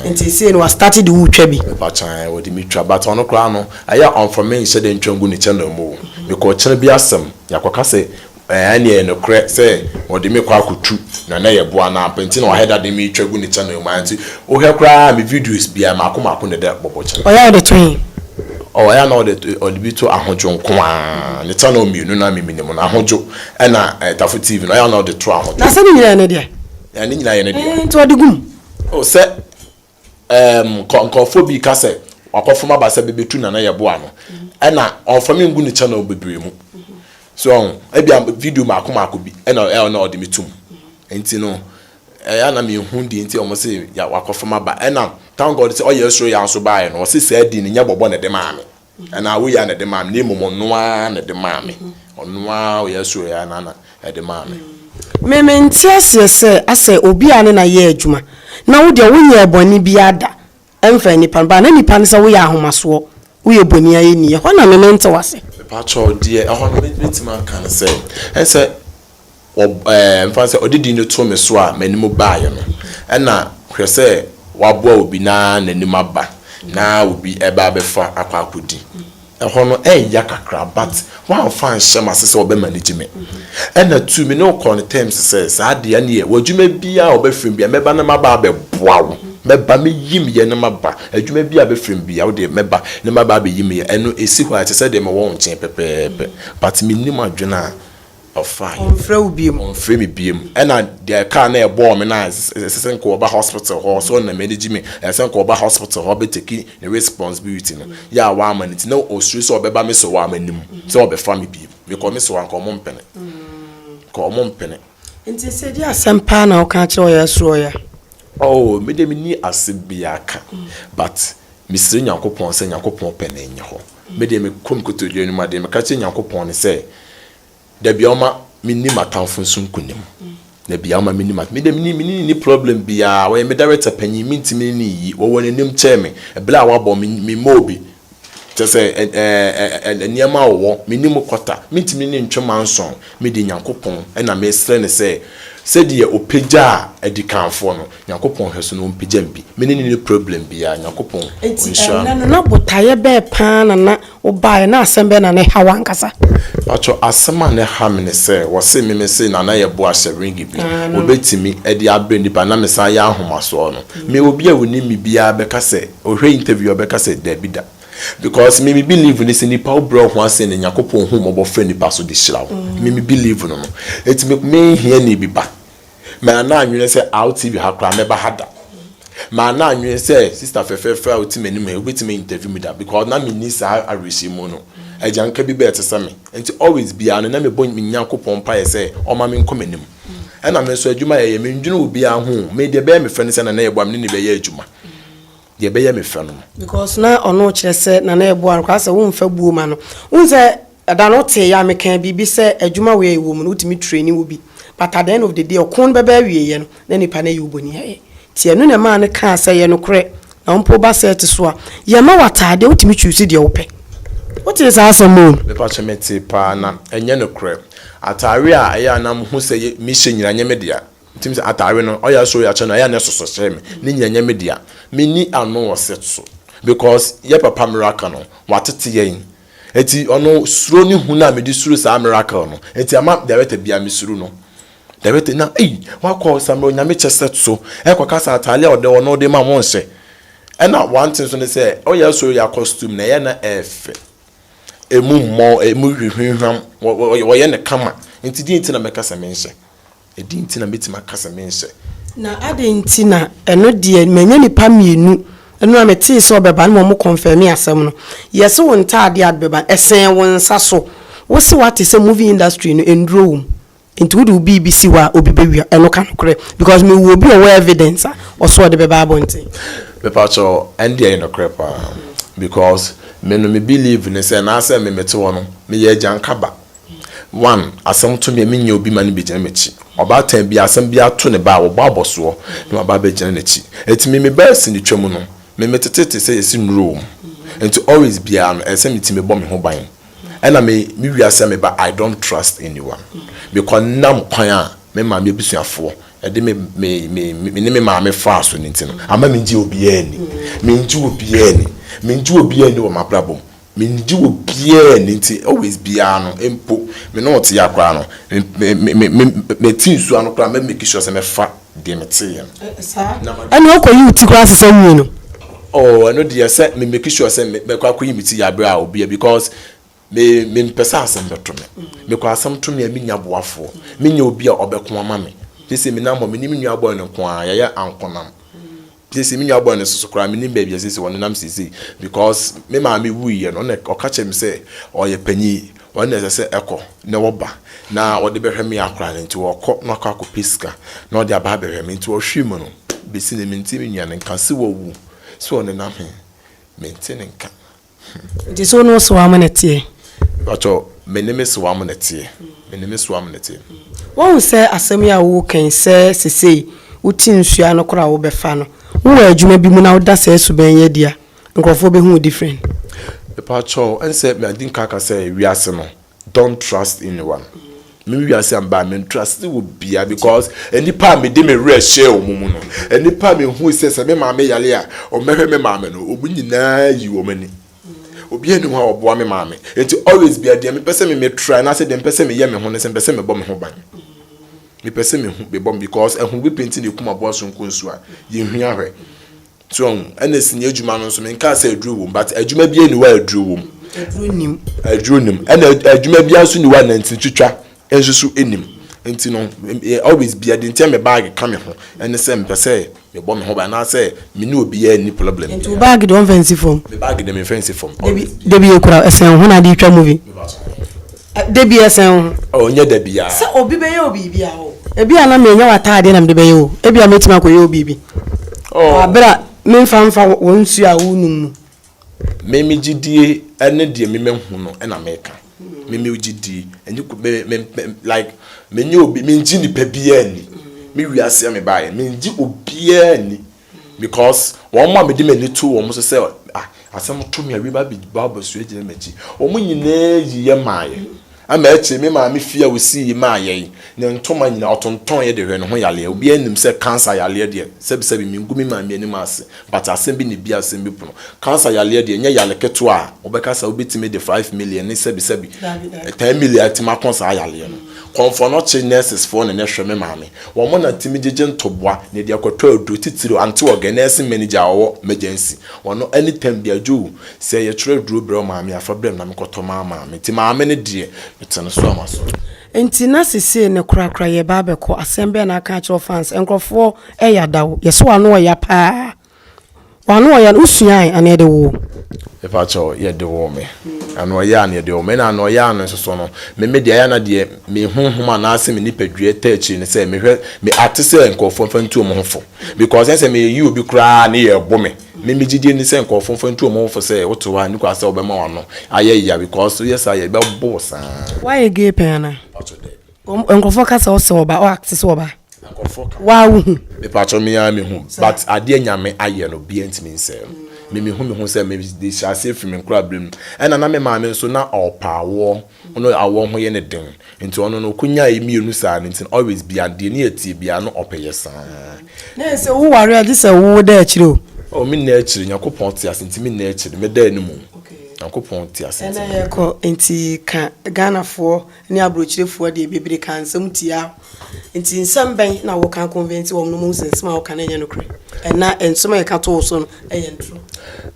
nti sesei no wa start de wo twa bi. Mepa kyae ɔde me twa but ɔno koraa no ɛyɛ a ɔnfa me nhyɛ dɛ ntwa ngu ne channel mu o mekɔ ɔkyena bi asɛm yɛakɔka sɛ Ɛɛaa nea ɛyɛ nokorɛ sɛ ɔde me kɔ akɔtu na na yɛ boa no ampa nti na wahɛ dade me twa gu ne channel mu aa nti wo hwɛ koraa me videos biaa maako maako na ɛda bɔbɔ channel. Ɔyɛ a ɔde to he? Ɔɔ ɛyɛ a na ɔde ɔde bi to Ahodwo nko aa ne channel mmienu no a me minim no Ahodwo ɛna Tafo TV no ɔyɛ a na ɔde to Ahodwo. Na sɛ ne nyinaa yɛ ne deɛ? Ɛɛ ne nyinaa yɛ ne deɛ. Ɛɛ nti ɔde gu mu? Oh sɛ. ɛɛm nkɔ nkorɔfoɔ bi ka sɛ wakɔfam aba sɛ bɛbɛtu Nana Yeboah no ɛna ɔmfa me ngu ne channel bebree mu so ɔho ebia video mako mako bi ɛna ɛna ɔde me tum nti no ɛyɛ ana mehu deɛ nti ɔmo se wakɔfam aba ɛna thank God sɛ ɔyɛ soro yɛ nso baeɛ no ɔse saa din no nyɛ bɔbɔ na ɛde maa me anaa woyɛ a na ɛde maa me na mmom ɔno ara na ɛde maa me ɔno ara ɔyɛ so yɛ na na ɛde maa me. Me me nte aseɛ sɛ asɛ obi a ne na yɛ adwuma na wo deɛ wo nyɛɛ bɔne biara da ɛmfa nnipa no ba na nnipa no sɛ woyɛ ahomasoɔ woyɛ bɔni ayɛni ɛhɔ na me me nte wase. Mepakyɛw deɛ ɛhɔ no mɛtumi aka no sɛ ɛsɛ. Wɔmfa no sɛ ɔde din no too me so a m'anim baeɛ no, ɛna hwɛ sɛ wɔaboa obi na n'anim aba na obi reba abɛfa akɔ akɔdi. Ɛhɔ no, ɛreya kakra but woamfa anhyɛ m'ase sɛ wɔbɛma no gye me. Ɛna tu me ne wo kɔɔ ne terms sɛ, saa deɛ ɛneɛ w'adwuma biara a wɔbɛfrɛ me biara mɛba na maba abɛboa wo. Mɛba, mɛyi meyɛ na maba. Adwuma biara a bɛfrɛ me biara wodeɛ mɛba na maba abɛyi meyɛ. Ɛno ɛsi hɔ a ɛte sɛ deɛ mewɔ wo nkyɛn pɛpɛɛpɛ but mennim adwene a Ɔfaa yɛ. Ɔnfrɛ wo biom. Ɔnfrɛ me biom. Ɛna deɛ car no a ɛbɔɔ me no a ɛsɛ sɛ nka ɔba hospital hɔ so na m'ani gye me ɛsɛ sɛ nka ɔba hospital hɔ bɛ take ne responsibility no yɛ a wamma no nti na ɔsuro sɛ ɔbɛba me so a m'anim sɛ ɔbɛfa me biom. Mekɔ me so a nka ɔmo mpene. Nka ɔmo mpene. Nti sɛ ɛgye asɛm paa na woka akyerɛ ɔyɛ soro ɔyɛ a? Oh me deɛ me ni ase biaa ka but me srɛ Nyankopɔn sɛ Nyankopɔn pɛ na ɛnyɛ hɔ me deɛ me kɔ me kotodwe anim a deɛ me ka kyerɛ Nyankopɔn ne sɛ dabia ɔma me ni m'atamfo nso nkunim dabia ɔma me ni m'atamfo me deɛ me ni me ni ni problem biaa ɔyɛ me director panyin me ntimi ne ne nyi ɔwɔ n'anim kyɛɛ me ɛbla a wabɔ me me mɔɔ bi Kyerɛ sɛ, ɛ, ɛ, ɛ, ɛ, ɛ, nneɛma a ɔwɔ, menni mu kwata. Mentumi ne ntwe m'ansɔn. Mede Nyankopɔn na mesrɛ no sɛ, sɛdeɛ Ɔpagyaa adikanfoɔ no, Nyankopɔn nhwɛ so na Ɔmpagya me bi. Me ne no nni problem biara. Nyankopɔn Nti, Ɔnhyira ɛnnɛ no, me. na botaeɛ bɛɛ pa ara na na wobaeɛ, na asɛm bɛn na na ɛha wo ankasa? Mpakyɛw, asɛm a na ɛha me ne sɛ, wɔse me mese Nana Yeboah ahyɛ ringi bi, wɔbɛtumi de abrɛ nnipa, na mesan yɛ ahomasoɔ no. Me, obi a ɔnim me biara bɛka sɛ, Ohwɛ interview a ɔbɛka sɛ dabi da because me me believe ne sɛ nipa wo brɛ wo ho ase na Nyankopɔn hu mmɔbɔ frɛ nipa so de hyira wo me me believe no no eti me me hia ni bi ba me ana anwene sɛ aw TV ha koraa mɛba ha da me ana anwene sɛ sister fɛfɛɛfɛ a ɔte m'anim ha wobɛtumi interview me da because na me ni saa awerɛhyɛmu no agyanka bi bɛɛ te sɛ me nti always biara no na me bɔ me Nyankopɔn mpaeɛ sɛ ɔma me nkɔ m'anim ɛna me nso adwuma yɛyɛ me ndwene obiara ho me deɛ bɛyɛ me frɛ no sɛ na na yɛboa me ne ne bɛyɛ adwuma deɛ ɛbɛyɛ me fɛ no. Because na ɔno rekyerɛ sɛ na na ɛboa no koraa sɛ womfa buo ma no. Wohu sɛ ɛda no woteeɛ a mekaa biribi sɛ adwuma wei a yɛwɔ mu no wotumi traini wo bi but at the end of the day ɔko no bɛba awieeɛ no na nipa no ayi wo bɔni ayɛ nti ɛno na ɛmaa no kaa sɛ yɛ nokorɛ na wo mpo woba set so a yɛma wo ataadeɛ wotumi choose deɛ wopɛ. Wotee saa asɛm o? Mepakyɛ metee paa na ɛnyɛ nokorɛ. Ataare a ɛyɛ a na mehu sɛ mehyɛ nyinaa ɛnyɛ me dea. Tim sɛ atare no ɔyɛ asɔre akyɛ no ayɛ a na ɛsoso kyerɛ me ne nyina nyɛ me dea menni ano wɔ set so because yɛ papa miracle no watete yɛn nti ɔno suro ne hu no a mede suro saa miracle no nti ama director bia me suro no director na ei wakɔ samira onyame kyɛ set so ɛkɔ ka sɛ atare a ɔde wɔ no wode ma mo nhyɛ ɛna one thing so ne sɛ ɔyɛ asɔre yɛ costume na ɛyɛ na ɛfɛ emu mmɔ emu hwehwehwam wɔyɛ ne kama nti deɛ nti na mɛka sɛ menhyɛ. Ɛdeɛn nti na mɛtumi aka sɛ menhyɛ? Na adɛn nti na ɛno deɛ manya nnipa mmienu no a metee sɛ ɔbɛba no ma ɔmo kɔnfɛmee asɛm no. Yɛse wo ntaadeɛ a bɛba no ɛsɛn wo nsa so. Wose wate sɛ movie industry no nnuro wom nti wode wo biribi si hɔ a obi bɛwia. Ɛno ka nokorɛ because mewɔ obi a ɔwɔ evidence a ɔse ɔde bɛba abɔnten. Mepakyɛw ɛnde ɛyɛ nokorɛ paa because me no me believe ne sɛ naasɛ me mete hɔ no meyɛ agyanka ba One, asɛm to me a, menyɛ obi ma no bɛgyina m'akyi. Ɔbaatan biara, asɛm biara to ne ba a, wɔbɔ abɔsoɔ na waba abɛgyina n'akyi. Enti me, me ba asi ne twam no, me, metete te sɛ yɛsi nnuro wɔ mu. Enti always biara no, ɛsɛ sɛ me ti mebɔ me ho ban. Ɛna me, me wiase a meba, I don't trust anyone. Mekɔ nam kwan a me maame abusuafoɔ de me, me, me, me ne me maame faa so no nti no, amma mengye obiara nni. Mengye obiara nni. Mengye obiara nni wɔ m'abrabɔ mu. Mennye wɔ biaa nni nti always biaa no mpo me ne ɔte a koraa no me te nsuo ano koraa mɛ make sure sɛ mɛ fa deɛ me teeɛ no. Ɛnna wokɔ yi wo ti koraa sesɛ nwie no. Oh ɛno deɛ sɛ me make sure sɛ mɛ kɔ akɔ yi me ti yɛ aberɛ a obi a because me me mpɛ sɛ asɛm bɛ to me me kɔ asɛm to me a me nya boafoɔ me nya obi a ɔbɛ ko ama me sese me nam hɔ me ne me nua boy no nko ara yɛyɛ ankonam. Seesei me nuabɔ no nso so koraa mennim baabi a seesei ɔnenam seesei because me maame wuiɛ no ɔna ɔka kyerɛ me sɛ ɔyɛ panyin ɔno na ɛsɛ sɛ ɛkɔ na ɔba na ɔde bɛhwɛ me akora no nti ɔkɔ na ɔkɔ akɔpɛ sika na ɔde aba abɛhwɛ me nti ɔhwe mu no bɛsi ne mente me nua no nka sɛ wawu sɛ ɔnenam he mente ne nka. Nti so wo ne wo soa mo na ɛteɛ? Mpakyɛ me ne me soa mo na ɛteɛ. Me ne me soa mo na ɛteɛ. Woahu sɛ asɛm yi a woreka yi sɛ sesei wote nsuo ano koraa a wobɛfa no, wowɔ adwuma bi mu na woda saa suban yi adi a, nkorɔfoɔ bɛhu wo different? Mpakyɛ ɛnsɛ me adi nka aka sɛ wiase no Don't trust anyone. Me wiase a mbaa me trust wɔ bia because nipa a me de me werɛ hyɛɛ wɔn mu no, nipa a me hu sɛ sɛ me maame yare a wɔn bɛhwɛ me maame no, wɔn nyinaa yi wɔn ani. Obiara ni hɔ a ɔboa me maame. Nti always bia deɛ mepɛ sɛ me me try na sɛ deɛ mepɛ sɛ me yɛ me ho ne sɛ mepɛ sɛ me bɔ me ho ban. Mepɛ sɛ me hu me bɔ because ɛho bi penti na ekum aboa sonko nsu a yɛn hwi ahwɛ. So ɔho ɛna sini adwuma no nso menkaa sɛ aduro wom but adwuma bia ni hɔ a aduro wom aduro nim aduro nim ɛna adwuma bia nso ni hɔ a nanti twitwa nso so nim nti no always bia de nti a me baage ka me ho ɛne sɛ mpɛ sɛ mebɔ me ho ba anaasɛ me ne obiara nni problem nti baage de ɔmfa nsi fam me baage de memfa nsi fam debi ekura ɛsɛn ho na de twa movie Da bi a, sɛn ho. Oh, nyɛ da bi a. Sɛ obi bɛyɛ wo biribi a, oh. Ebi a na menya w'ataadeɛ na mede bɛyɛ o. Ebi a mɛtumi akɔyɛ wo biribi. Oh. Abere a memfa mfa wɔn nsuo a wonom mu. Me me gyidie ne deɛ me mahu no na meka. Me me gyidie. Ɛnyɛ ku me me like menyɛ obi mengye nipa biara ni. Me wiase a mebaeɛ mengye obiara ni. Because wɔn a mede m'ani too wɔn so sɛ asɛm to me a wei ba bɛba abɛsua gyina m'akyi. Wɔn nyinaa yi yɛ maaeɛ. Ama akyire me maame fie a wɔsii yi maaeɛ yi, ne ntoma nyinaa ɔtontɔneeɛ de hwɛ ne ho yareɛ. Obiara nim sɛ cancer yareɛ deɛ, sɛbisɛbi mengu me maame anim ase, but asɛm bi na ɛbue asɛm bi pono. Cancer yareɛ deɛ ɛnyɛ yare ketewa a wobɛka sɛ wobɛtumi de five million ne sɛbisɛbi, ten million atumi ako saa yareɛ no. Kɔmfoɔ no kye nurses foɔ na na ɛhwɛ me maame. Wɔn na tumi gyegye ntoboa na ɛde kɔtɔ aduro, titiriw anteɔga, nɛɛse mɛnegya a ɔwɔ mɛgyansi. Wɔn no ɛne tɛm de adwoo. Sɛ yɛtwerɛ aduro brɛ wo maame a, fa brɛ me na mekɔtɔ maa maame. Nti maame no deɛ, mete no so a masɔre. Nti na sesei no korakora yɛreba abɛkɔ, asɛm bɛn na aka akyerɛ wo fans? Nkurɔfoɔ ɛyɛ ada o, yɛsɔ ano ɔya paa. Wano ɔyɛ a wo suae anaa yɛde woo? Mepakyɛw yɛde woo me. Ano ɔyɛ a na yɛde woo me. Ɛna ano ɔyɛ a no nso so no, me me deɛ ɛyɛ a na deɛ me honhom anaase me nipadua ɛtaa akyire ne sɛ mehwɛ me ate sɛ nkorɔfoɔ mfa ntu wɔn ho fo. Because ɛsɛ me yɛyi obi koraa a ne yɛ ɛbo me. Me me gyidie ne sɛ nkorɔfoɔ mfa ntu wɔn ho fo sɛ wote hɔ a nnikwaa sɛ wobɛma wano ayɛ ya because woyɛ saa a yɛbɛbo wo saa. Woayɛ gay pɛn anaa? Mepakyɛw daabi. Nkurɔfoɔ ka sɛ wo sɛ ɔba, wo act sɛ ɔba. Nkurɔfoɔ ka. Waa wo hu. Me patrɔ me ara me hu but adeɛ nyame ayɛ no obiara ntumi nsɛe no me me hu me ho sɛ me de hyɛ aseɛ firi me nkora berɛ mu ɛna na me maame nso na ɔpa awoɔ ɔno awoɔ ho yɛ ne den nti ɔno no ɔkɔnya yɛ mmienu saa no nti always bia deɛ ne yɛtie bia no ɔpɛ yɛ saa. Na ɛsɛ wo ware agye sɛ wo da akyire o. Oh me nna akyire nyakopɔn te ase nti me nna akyire me da anim o nyakopɔn te ase nti. Ɛna yɛkɔ nti ka Ghanafoɔ ne aburokyerefoɔ deɛ bebree kaa nsɛm tiaa wo nti nsɛm bɛn na wo kan convince wɔn nom hu sɛ nsɛm a wo ka no nyɛ nokorɛ ɛna nsɛm a yɛka to wo so no yɛ ntoro.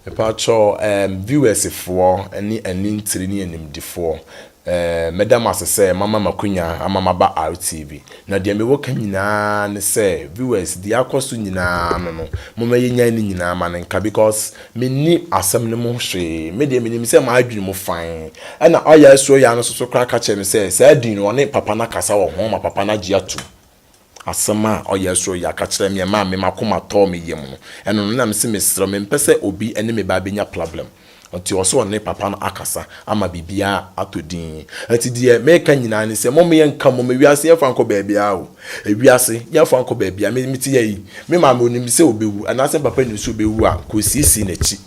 Mepakyɛ ehm viewers foɔ ne anintire ne animdifoɔ ehm mɛda mo ase sɛ moama me akwanya ama maba RTV na deɛ mewɔ ka nyinaa ne sɛ viewers deɛ akɔ so nyinaa no no momma yɛnyae ne nyinaa ma no nka because Menni asɛm no mu hwee. Me deɛ, menim sɛ m'adwene mu fann. Ɛnna ɔyɛ asuo yaa no soso koraa ka kyerɛɛ no sɛ, saa din no, ɔne papa no akasa wɔ ho ma papa no agye atom. Asɛm a ɔyɛ asuo yaa ka kyerɛɛ me a ɛmaa me m'akoma tɔɔ me yam no, ɛno no na mese mesrɛ wo, mempɛ sɛ obi ne me ba bɛnya plablɛm. Ɔnti ɔse ɔne papa no akasa. ama biribiara atɔ din. Enti deɛ mereka nyinaa ne sɛ, mom yɛnka mmom, ewiase yɛmfa nkɔ baabiara o, ewiase yɛmfa nkɔ baabiara, me, mete ha yi, me maame onim sɛ ɔbɛwu, anaasɛ me papa nim sɛ ɔbɛwu a, nka ɔsiesie n'akyi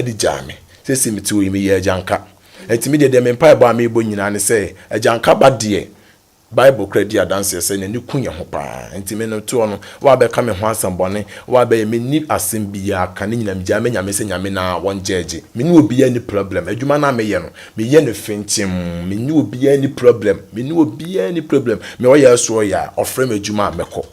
de gyaa me, seesei mete hɔ yi, meyɛ agyanka. Enti me deɛ, deɛ me mpaebɔ a merebɔ nyinaa ne sɛ, agyanka ba deɛ, Bible koraa di adanseɛ sɛ n'ani ku yɛn ho paa. Enti me no toɔ no, woabɛka me ho asɛm bɔne, woabɛyɛ, menni asɛm biaa ka, ne nyinaa megyae me Nyame sɛ Nyame no aa wɔn gyɛɛgye. Me ne obiaa nni problem, adwuma no a meyɛ no, meyɛ no fintim, me ne obiaa nni problem, me ne obiaa nni problem, me ɔyɛ a so ɔyɛ a, ɔfrɛ me adwuma a mɛkɔ.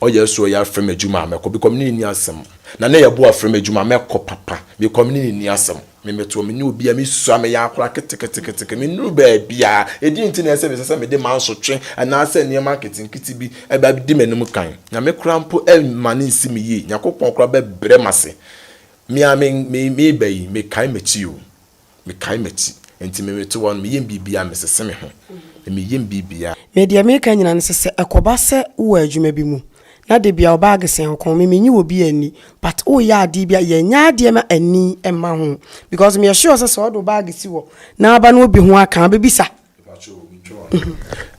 Ɔyɛ so yɛ afrɛ me adwuma a mɛkɔ bikɔ me ne ne nni asɛm na ne yɛ bo afrɛ me adwuma a mɛkɔ papa bikɔ me ne ne nni asɛm me metoɔ me ne obi a me sua me yɛ akora keteketeke me nuru baabi a ɛdi nti na ɛsɛ me sɛ sɛ me de mansotwe anaa sɛ nneɛma nketenkete bi ɛbɛ di m'anim kan nyame kora mpo ma ne nsi me yie nyakopɔn kora bɛ brɛ m'ase me a me me me ba yi me kae m'akyi o. Mekae m'akyi. Enti merete hɔ no, meyem biribiara, mesese me ho, na meyem biribiara. Me deɛ meka nyinaa no sɛ, sɛ ɛkɔba sɛ wowɔ adwuma bi mu, na debia wo bag sɛn wo kɔn, me menyi wɔ bi anni, but woyɛ adeɛ bi a, yɛ nyɛ adeɛ ma ani mma ho, because meyɛ sure sɛ sɛ wɔde wo bag si hɔ, na aba na obi ho aka a, wobɛbisa,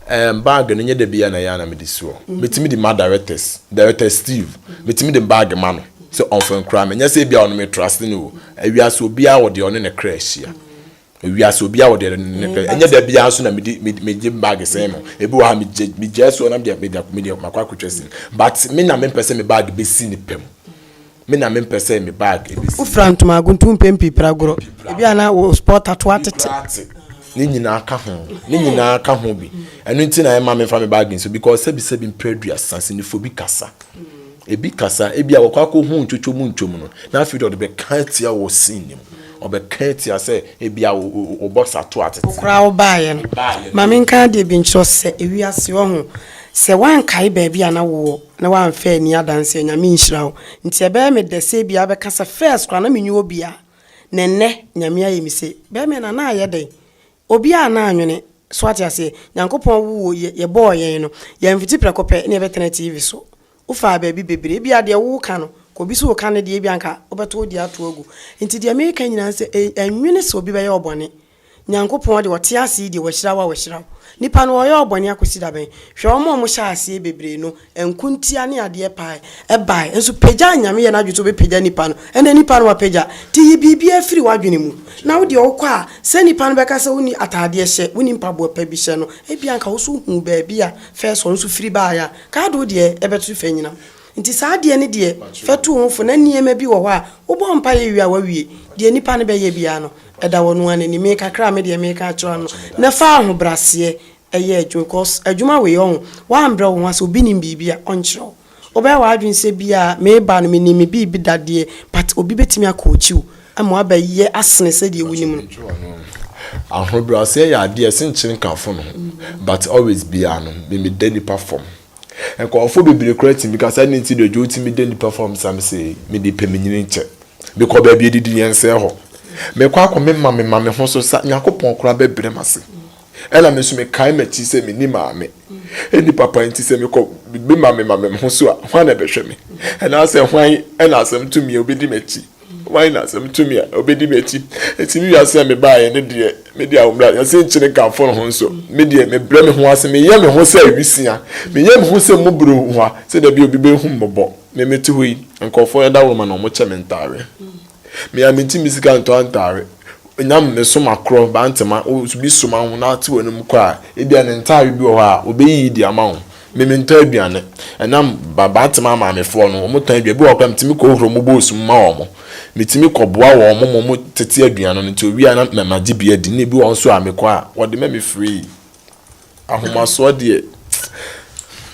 Ɛɛm bag no nyɛ da biara na ɛyɛ a na mede si hɔ. Metumi de ma directors, Director Steve, metumi de bag ma no sɛ ɔmfa nkura me. Nyɛ sɛ ebia ɔno me trust no o. Ewiase obiara wɔ deɛ ɔne ne kra hyia. Ewiase obiara wɔ deɛ ɔne ne kra. Ɛnyɛ da biara nso na mede mede megye bag sɛn no. Ebi wɔ ha megye megyae si hɔ na mede mede mede makɔ akɔtwa sini. But me na mempɛ sɛ me bag bɛsi ne pɛ mu. Me na mempɛ sɛ me bag besi hɔ. Wofira ntoma aguntu mpɛn pii pira agorɔ. Ebia na wo sport ato atete. Ne nyinaa ka ho. Ne nyinaa ka ho bi. Ɛno nti na ɛmma memfa me bag nsi hɔ because sɛbisɛbi mprɛduasa sinifoɔ bi kasa. Ebi kasa, ebia wakɔ akɔhu ntwotwo mu ntwom no na afei de ɔde bɛka atia wo wɔ scene no mu. Ɔbɛka atia sɛ ebia wo box ato atete. Wo koraa wobaeɛ no. Ma menka adeɛ bi nkyerɛ wo sɛ ewiase ɔho. Sɛ woankae baabi a na wowɔ na w'anfa anni adanseɛ Nyame nhyira wo nti ɛbɛyɛ me dɛ sɛ ebia wobɛka sɛ first koraa na menni obia na ɛnnɛ Nyame ayɛ me se bɛɛma na na ayɛ dɛn obia a na anwene so wate aseɛ Nyankopɔn woo yɛ yɛbɔɔ yɛn no yɛanfiti prɛko pɛ na yɛbɛtena TV so wofaa baabi bebree ebia deɛ wo ka no ka obi so reka ne deɛ ebia anka wobɛto wo deɛ ato agu nti deɛ meka nyinaa ne sɛ ɛnwene sɛ obi bɛyɛ wo bɔne Nyankopɔn de ɔte ase yi deɛ wahyira wo a wahyira wo. Nipa no ɔyɔɔ bɔne akɔsi da bɛn? Hwɛ wɔn a wɔhyɛɛ aseɛ bebree no nkontia ne adeɛ paa ɛbaeɛ nso pagyaa Nyame yɛ n'adwene sɛ ɔbɛpagya nipa no ɛnna nipa no wapagya nti yi biribiara firi w'adwene mu na wo deɛ wokɔ a sɛ nipa no bɛka sɛ wonni ataadeɛ hyɛ wonni mpaboa pa bi hyɛ no ebia nka wo nso hu baabi a first ɔno nso firi baeɛ a nka ade wo deɛ ɛbɛto fa nyina Nti saa adeɛ no deɛ fa tu wo ho fo na nneɛma bi wɔ hɔ a wobɔ mpaeɛ wie a woawie. Deɛ nnipa no bɛyɛ biara no ɛda wɔn ara no anim. Me kakra a me deɛ meka akyerɛ wo no na fa ahobraseɛ yɛ adwuma because adwuma wei ɔho woambrɛ wo ho ase obi nim biribi a ɔnkyerɛ wo. Wobɛyɛ w'adwene sɛ bi a meba no menim me biribi da deɛ but obi bɛtumi a coach wo ama woabɛyɛ asene sɛdeɛ wonim no. Ahobraseɛ yɛ adeɛ a ɛse nkyene ka fono ho but always biara no me meda nnipa fam. Nkurɔfo bebree koraa tumi ka sɛ, 'Adɛn nti na Joe tumi da nnipa fam sam sei? Mede pɛminyini kyɛ. Mekɔ baabi a adidi yɛ nsɛe hɔ. Mekɔ akɔmema me maame ho so sa. Nyankopɔn koraa bɛbrɛ m'ase. Ɛnna me nso mekae m'akyi sɛ minni maame. Enni papa nti sɛ mekɔ bema me maame ho so a, hwan na ɛbɛhwɛ me? Anaasɛ hwan na asɛm tumi a obedi m'akyi? Hwan na sɛ metumi a, ɔbɛdi m'akyi? Enti me wiase a mebaeɛ no deɛ, me deɛ ahobrɛ, yɛse nkyene nkamfo no ho nso, me deɛ mebrɛ me ho ase, meyɛ me ho sɛ awisia, meyɛ me ho sɛ mmɔborɔhua, sɛdeɛ ɛbɛyɛ obi bɛhu me mmɔbɔ. Me mete hɔ yi, nkurɔfoɔ yɛ daworo ma na wɔkyɛ me ntaare. Me a menkyi me sika ntɔ ntaare, nyam me so makorɔ, bantama, wo nso bi soma wo na te w'anom kɔ a, ebia ne ntaare bi wɔ hɔ a, ɔbɛyiyi de ama wo. Me mentɔ aduane. Ɛnam Babatema maamefoɔ no, wɔn tɔn aduane. Ebi wɔ hɔ koraa a, metumi kɔ hura wɔn boos mu ma wɔn. Metumi kɔ boa wɔn ma wɔn tete aduane no. Nti owie a na mɛ magye bi adi. Ɛna ebi wɔ hɔ nso a mekɔ a, wɔde ma me free. Ahomasoɔ deɛ hmm.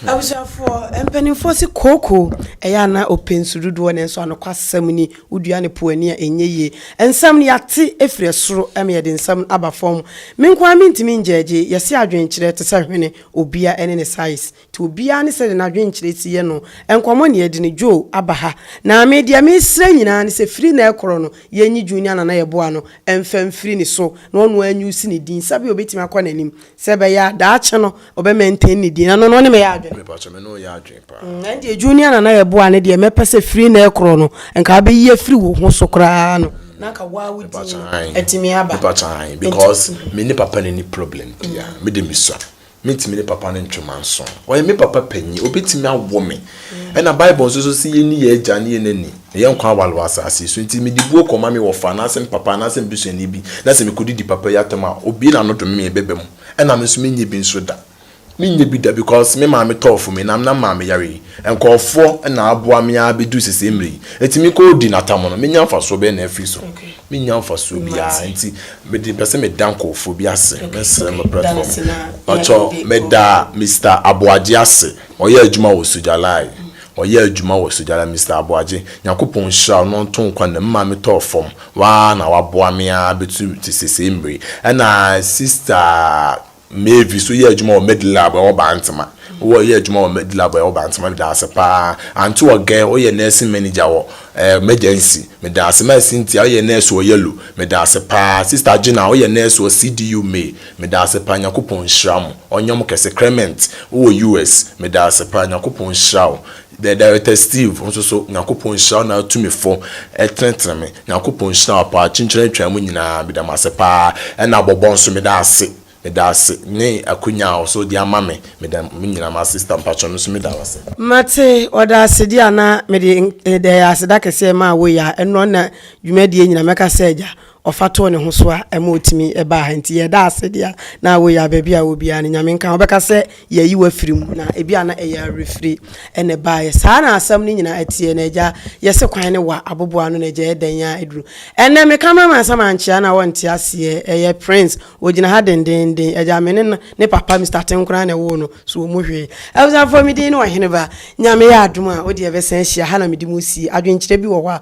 Abusuafoɔ, mpaninfoɔ se kooko ɛyɛ a na ɔpɛ nsu dodoɔ nanso anokwasɛm ni, wodua no po ani a ɛnyɛ yie. Nsɛm no yɛate ɛfiri ɛsoro ɛma yɛde nsɛm no aba fam. Me nko ara mentumi ngyɛɛgye, yɛse adwenkyerɛ te sɛ hwene. Obia ɛne ne size ti obia ne sɛdeɛ nadwenkyerɛ si yɛ no nkɔmɔ ne yɛde no Joe aba ha na me deɛ me srɛ nyinaa ne sɛ firi na ɛkorɔ no yɛ nyi Junior Nana yɛ boa no mfa mfiri ne so na ɔno ara nyi usi ne din sɛbea obetumi akɔ nanim sɛ ɛbɛyɛ a daakye no ɔbɛ maintain ne din na no no ne me yɛ adwene. Mepakyɛ me ne wo yɛ adwene. paa. Ɛndeɛ junior nana yɛ boa ne deɛ mɛpɛ sɛ firi nnɛ rekorɔ no nka wobɛyi afiri wo ho so koraa no na nka woa wo din no atumi aba. Mepakyɛ ae because me ne papa no nni problem bia me de me sua mentumi ne papa no ntwe manso ɔyɛ me papa panyin ɔbɛtumi awo me ɛna bible nso so se yɛni yɛn agya ne yɛn nani na yɛn nkwa aware wɔ asase so nti mede buo kɔma me wɔfa anaasɛ me papa anaasɛ me busuani bi na sɛ mekɔdidi papa yi atam a obue n'ano dome me ɛbɛba mu ɛna me nso menyɛ bi nso da. Me nyɛ bi da because me maame tɔɔ fo me na na maame yare yi nkorɔfoɔ na aboa me ara bɛduru sesei mmerɛ yi nti me kɔ di natam no menya mfasoɔ bɛn na afiri so me nya mfasoɔ biara nti mede pɛ sɛ me da nkorɔfoɔ bi ase me srɛ mo platform mpakyɛw me da Mister Aboagye ase ɔyɛ adwuma wɔ Sujalai ɔyɛ adwuma wɔ Sujalai Mister Aboagye Nyankopɔn nhyira wo na ɔnto nkwa nna me maame tɔɔ fam wo ara na waboa me ara bɛduru sesei mmerɛ yi ɛna Sister Mavis, woyɛ adwuma wɔ Medlab ɛwɔ Bantama. Wowɔ yɛ adwuma wɔ Medlab ɛwɔ Bantama, meda ase paa. Anto Ogɛn, woyɛ nursing manager wɔ ɛɛ Megency, meda ase. Mai Cynthia, woyɛ nurse wɔ Yellow, meda ase paa. Sister Gina, woyɛ nurse wɔ CDU May, meda ase paa. Nyankopɔn nhyira mo, ɔnyɛ mo kɛse. Crement, wowɔ US, meda ase paa. Nyankopɔn nhyira wo. The director Steve nso so Nyankopɔn nhyira wo na tumifo tenetene me Nyankopɔn nhyira wo paa kyenkyena atwaa mu nyinaa meda mo ase paa ɛna bɔbɔ nso meda ase meda ase ne akonya a ɔso de ama me meda mo nyina mo ase sista mpakyɛ me nso meda wo ase. Mate ɔda ase deɛ a na mede ɛyɛ aseda kɛseɛ maa wo ya ɛnɔ na dwumadie nyina mɛka sɛ agya ɔfa too ne ho so a ɛma otumi baa ha nti yɛda ase deɛ na woyɛ a baabi a wɔ biara no nyame nka wobɛka sɛ yɛayi wafiri mu na ebi a na ɛyɛ awerɛfiri ɛna baeɛ saa na asɛm no nyinaa ɛteɛ na agya yɛse kwan ne wa aboboa no na agya ɛdɛn a ɛduru ɛnɛ me cameraman sɛ mankyea na wɔnte aseɛ ɛyɛ prince wɔgyina ha dendenden agya me ne ne papa Mr. Tenkora na ɛwoo no so wɔ mu hwee abusafoɔ me din ne ɔheneba nyame yɛ adom a wodeɛ bɛsan ahyia ha na mede mu sie adwenkyerɛ bi wɔ hɔ a